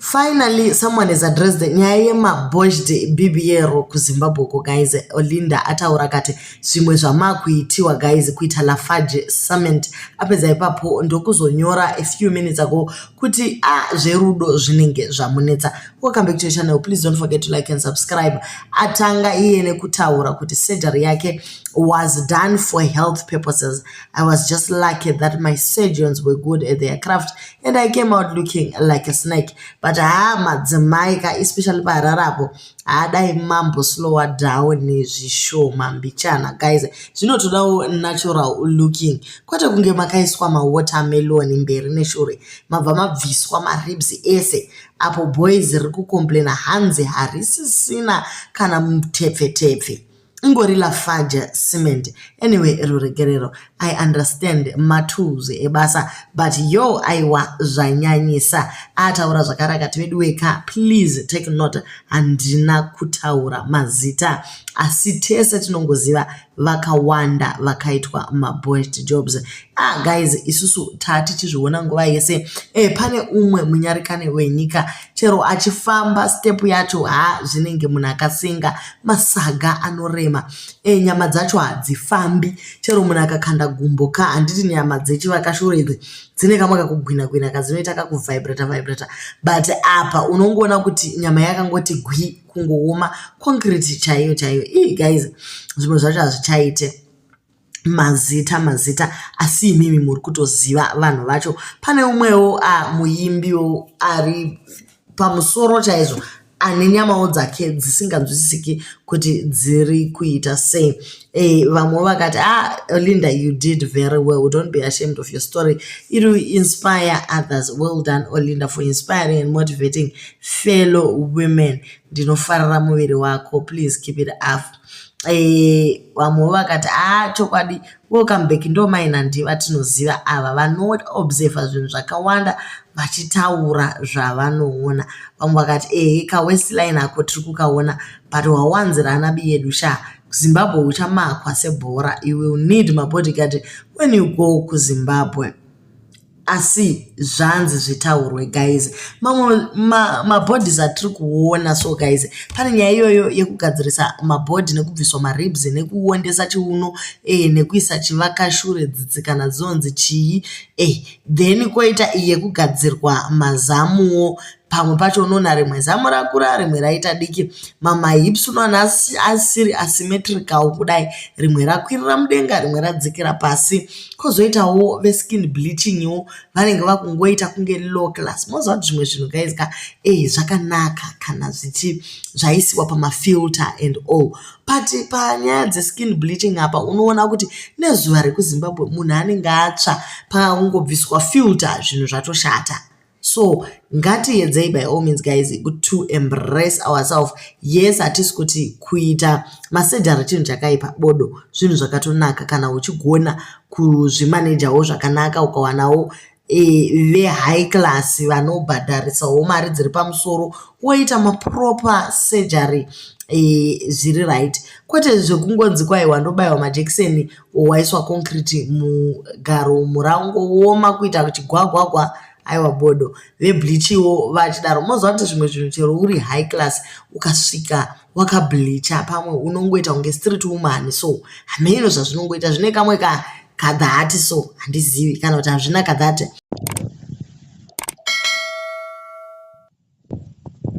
Finally, someone has addressed the nyaya yemabozhde bibiyero kuzimbabwe ko guys olinda ataura kati zvimwe zvamakuitiwa guys kuita lafarge summit apedza ipapo ndokuzonyora a few minutes ago kuti a ah, zverudo zvinenge zvamunetsa welcome back to your channel please don't forget to like and subscribe atanga iye nekutaura kuti surgery yake was done for health purposes i was just lucky that my surgeons were good at their craft and i came out looking like a snake but haa madzimai ka especially paharare apo haadai mambo slower down zvishoma mbichana guys zvinotodawo natural looking kwete kunge makaiswa mawatermelon mberi neshure mabva mabviswa maribs ese apo boys riri kucomplaina hanzi harisisina kana mutepfetepfe ingori lafaja cement anyway ruregerero i understand matools ebasa but yo aiwa zvanyanyisa ataura zvakarakati veduweka please take note handina kutaura mazita asi tese tinongoziva vakawanda vakaitwa maboest jobs ah guys isusu taa tichizviona nguva yese e, pane umwe munyarikani wenyika chero achifamba step yacho ha zvinenge munhu akasenga masaga anorema e, nyama dzacho hadzifambi chero munhu akakanda gumbo ka handiti nyama dzechivakashure idzi dzine kamwe kakugwina gwina kadzinoita kakuvibrata vibrata but apa unongoona kuti nyama yakangoti gwi kungooma concrete chaiyo chaiyo ii guys zvimwe zvacho hazvichaite mazita mazita asi imimi muri kutoziva vanhu vacho pane umwewo muimbiwo ari pamusoro chaizvo ane nyamawo dzake dzisinganzwisisiki kuti dziri kuita sei e, vamwe vakati ah linda you did very well don't be ashamed of your story it will inspire others well done olinda for inspiring and motivating fellow women ndinofarira muviri wako please keep it up Eh, vamwe vakati a ah, chokwadi welcome back ndo mai nandi vatinoziva ava vanoobserva zvinhu zvakawanda vachitaura zvavanoona vamwe vakati ehe kawestline ako tiri kukaona but wawanzira ana bi yedu sha kuzimbabwe uchamakwa sebhora you will need mabodyguard when you go kuzimbabwe asi zvanzi zvitaurwe guys mamwe mabhodhis ma atiri kuona so guys pane nyaya iyoyo yekugadzirisa mabhodhi nekubviswa maribs nekuondesa chiuno eh, nekuisa chivakashure dzitsi kana dzonzi chii eh, then koita yekugadzirwa mazamuwo pamwe pacho unoona rimwe zamu rakura rimwe raita diki mamahips unoona asiri asymmetrical kudai rimwe rakwirira mudenga rimwe radzikira pasi kozoitawo veskin bleachingwo vanenge vakungoita kunge low class moziva kuti zvimwe zvinhu guys ka e zvakanaka kana zvichi zvaisiwa pamafilter and all but panyaya dzeskin bleaching apa unoona kuti nezuva rekuzimbabwe munhu anenge atsva pakakungobviswa filter zvinhu zvatoshata so ngatiedzei by all means guys to embrace ourself yes hatisi kuti kuita masedhara chinhu chakaipa bodo zvinhu zvakatonaka kana uchigona kuzvimanejawo zvakanaka ukawanawo e, vehigh class vanobhadharisawo mari dziri pamusoro woita maproper surgery e, zviri right kwete zvekungonzi kwaiwa ndobaiwa majekiseni waiswa concrete mugaro murango woma kuita chigwagwagwa aiwa bodo vebleachiwo vachidaro moziva kuti zvimwe zvinhu chero uri high class ukasvika wakableacha pamwe unongoita kunge street woman so hameno zvazvinongoita zvine kamwe ka kadhati so handizivi kana kuti hazvina kadhati